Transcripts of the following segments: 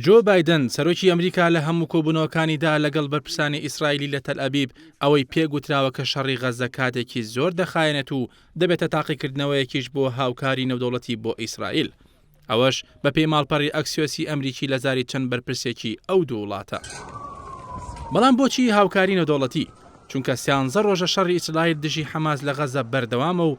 جۆ بایدن، سەرۆکی ئەمریکا لە هەموو کۆبوونەوەکانیدا لەگەڵ بەرپرسانی ئیسرائیلی لە تەلئەبیب ئەوەی پێ گوتراوە کە شەڕی غەززە کاتێکی زۆر دەخایەنێت و دەبێتە تاقیکردنەوەیەکیش بۆ هاوکاری نێودەوڵەتی بۆ ئیسرائیل ئەوەش بەپێی ماڵپەڕی ئەکسیۆسی ئەمریکی لە زاری چەند بەرپرسێکی ئەو دوو وڵاتە. بەڵام بۆچی هاوکاری نێودەوڵەتی؟ چونکە سیانزە ڕۆژە شەڕی ئیسرائیل دژی حەماس لە غەززە بەردەوامە و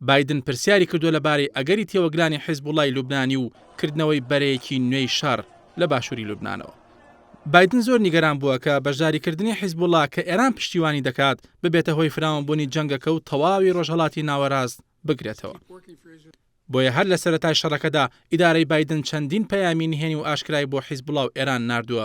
بایدن پرسیاری کردووە لەبارەی ئەگەری تێوەگلانی حیزبوڵڵای لوبنانی و کردنەوەی بەرەیەکی نوێی شەڕ لە باشووری لوبنانەوە. بایدن زۆر نیگەران بووە کە بەشداریکردنی حیزبوڵڵا کە ئێران پشتیوانی دەکات، ببێتە هۆی فراوانبوونی جەنگەکە و تەواوی ڕۆژهەڵاتی ناوەراست بگرێتەوە. بۆیە هەر لە سەرەتای شەڕەکەدا ئیدارەی بایدن چەندین پەیامی نهێنی و ئاشکرای بۆ حیزبوڵڵا و ئێران ناردووە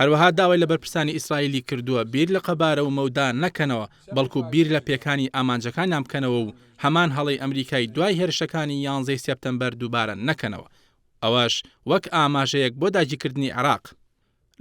هەروەها داوای لە بەرپرسانی ئیسرائیلی کردووە بیر لە قەبارە و مەودا نەکەنەوە، بەڵکو بیر لە پێکانی ئامانجەکانیان بکەنەوە و هەمان هەڵەی ئەمریکای دوای هێرشەکانی یانزەی سێپتەمبەر دووبارە نەکەنەوە، ئەوەش وەک ئاماژەیەک بۆ داگیرکردنی عێراق.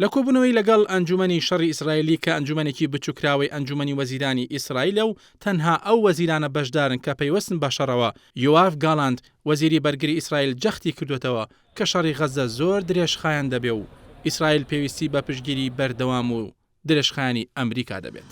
لە کۆبوونەوەی لەگەڵ ئەنجوومەنی شەڕی ئیسرائیلی کە ئەنجوومەنێکی بچووکراوەی ئەنجوومەنی وەزیرانی ئیسرائیلە و تەنها ئەو وەزیرانە بەشدارن کە پەیوەستن بە شەڕەوە، یۆاڤ گاڵانت، وەزیری بەرگری ئیسرائیل جەختی کردووەتەوە کە شەڕی غەززە زۆر درێژخایەن دەبێ و ئیسرائیل پێویستی بە پشتگیری بەردەوام و درێژخایەنی ئەمریکا دەبێت.